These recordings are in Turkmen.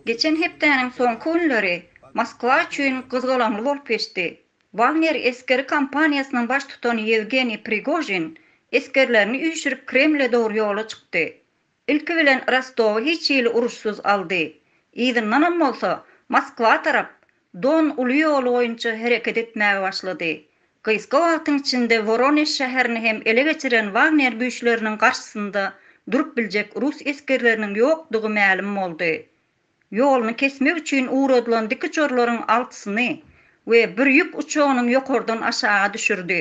Geçen hepdäniň soňky günleri Moskwa üçin gyzgalaňly bolup geçdi. Wagner esgeri kompaniýasynyň baştutany Ýewgeniý Prigožin esgerlerini üýşürip Kremle dogry ýola çykdy. Ilki bilen Rostowy hiç hili uruşsyz aldy. Yzyndanam bolsa, Moskwa tarap Don uly ýoly boýunça hereket etmäge başlady. Gysga wagtyň içinde Woronež şäherini hem ele geçiren Wagner güýçleriniň garşysynda durup biljek rus esgerleriniň ýokdugy mälim boldy. Ýoluny kesmek üçin ugradylan dikiçorlaryň altysyny we bir ýük uçagynyň ýokardan aşaga düşürdi.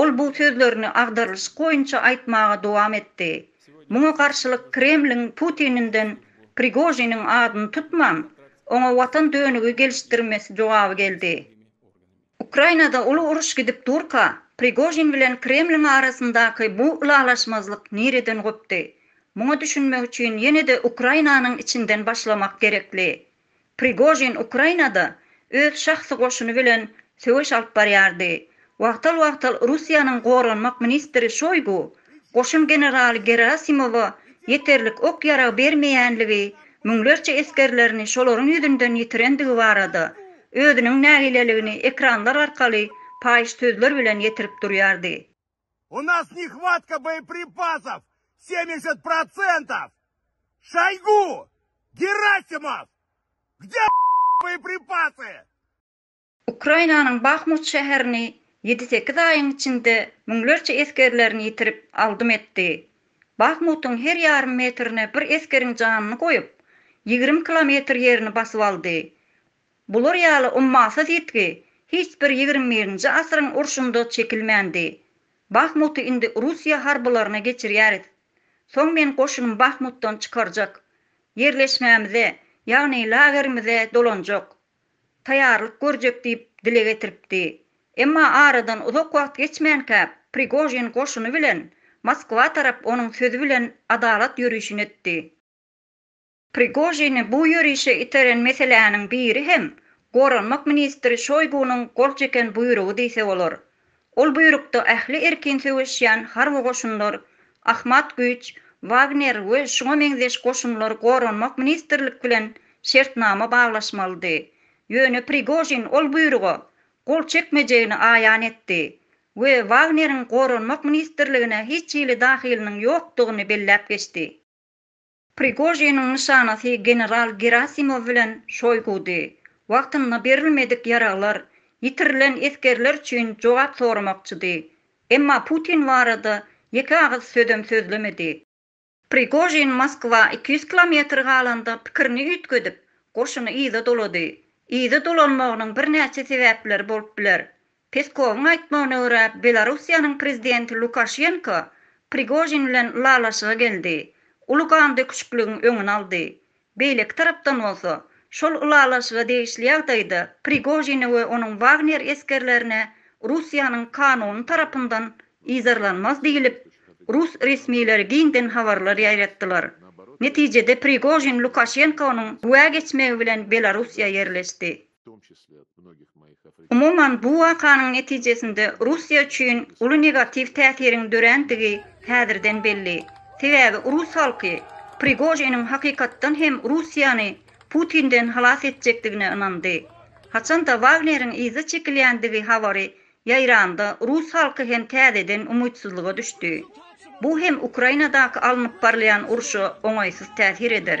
Ol bu sözlerini agdarylyşyk boýunça aýtmaga dowam etdi, Muňa garşylyk Kremliň Putininden Prigožiniň adyny tutman, oňa watan dönügi gelişdirmesi jogaby geldi. Ukrainada uly uruş gidip durka, Prigožin bilen Kremliň arasyndaky bu ylalaşmazlyk nireden gopdy? Muňa düşünmek üçin ýene-de Ukrainanyň içinden başlamak gerekli. Prigožin Ukrainada öz şahsy goşuny bilen söweş alyp barýardy. Wagtal-wagtal Russiýanyň goranmak ministri Şoýgu goşun generaly Gerasimowa ýeterlik ok-ýarag bermeýänligi, müňlerçe esgerlerini şolaryň ýüzünden ýitirendigi barada özüniň nägileligini ekranlar arkaly paýyş sözler bilen ýetirip durýardy. U nas nehvatka boýepripasov semýeşet prosentov Şaýgu Gerasimow kde boýepripasy. Ukrainanyň Bahmut şäherini ýedi sekiz aýyň içinde müňlerçe esgerlerini ýitirip aldym etdi. Bahmutyň her ýarym metrine bir esgeriň janyny goýup, ýigrimi kilometr ýerini basyp aldy. Bular ýaly ummasyz ýitgi hiç bir ýigrimi birinji asyryň urşunda çekilmändi. Bahmuty indi Russiýa harbylaryna geçirýäris. Soň men goşunym Bahmutdan çykarjak. Ýerleşmämize, ýagny lagerimize dolanjak. Taýýarlyk görjek diýip dile getiripdi. Emma aradan uzak wagt geçmänkä Prigožin goşuny bilen Moskwa tarap onuň sözi bilen adalat ýörişini etdi. Prigožini bu ýörişe iteren meseläniň biri hem Goranmak ministri Şoýgunyň gol çeken buýrugy diýse bolar. Ol buýrukda ähli erkin söweşýän harby goşunlar, Ahmat güýç, Wagner we şuňa meňzeş goşunlar Goranmak ministrlik bilen şertnama baglaşmalydy. Ýöne Prigožin ol buýruga gol çekmejegini aýan etdi we Wagneriň Goranmak ministrligine hiç hili dahylynyň ýokdugyny belläp geçdi. Prigožiniň nyşanasy general Gerasimow bilen Şoýgudy. Wagtynda berilmedik ýaraglar, ýitirilen esgerler üçin jogap soramakçydy. Emma Putin barada ýeke agyz sözem sözlemedi. Prigožin Moskwa iki ýüz kilometr galanda pikirini üýtgedip, goşuny yza dolady. Yza dolanmagynyň birnäçe sebäpleri bolup biler. Peskowyň aýtmagyna görä, Belarussiýanyň prezidenti Lukaşenko Prigožin bilen ylalaşyga geldi, uly gandöküşikligiň öňüni aldy. Beýleki tarapdan bolsa, şol ylalaşyga degişli ýagdaýda Prigožine we onuň Wagner esgerlerine Russiýanyň kanuny tarapyndan yzarlanmaz diýlip, rus resmileri giňden habarlar ýaýratdylar. Netijede Prigožin Lukaşenkonyň güwä geçmegi bilen Belarussiýa ýerleşdi. Umuman, bu wakanyň netijesinde Russiýa üçin uly negatiw täsiriň dörändigi häzirden belli. Sebäbi rus halky Prigožiniň hakykatdan hem Russiýany Putinden halas etjekdigine ynandy. Haçan-da Wagneriň yza çekilýändigi habary ýaýrandy, rus halky hem täzeden umytsyzlyga düşdi. Bu hem Ukrainadaky alnyp barylýan urşa oňaýsyz täsir eder.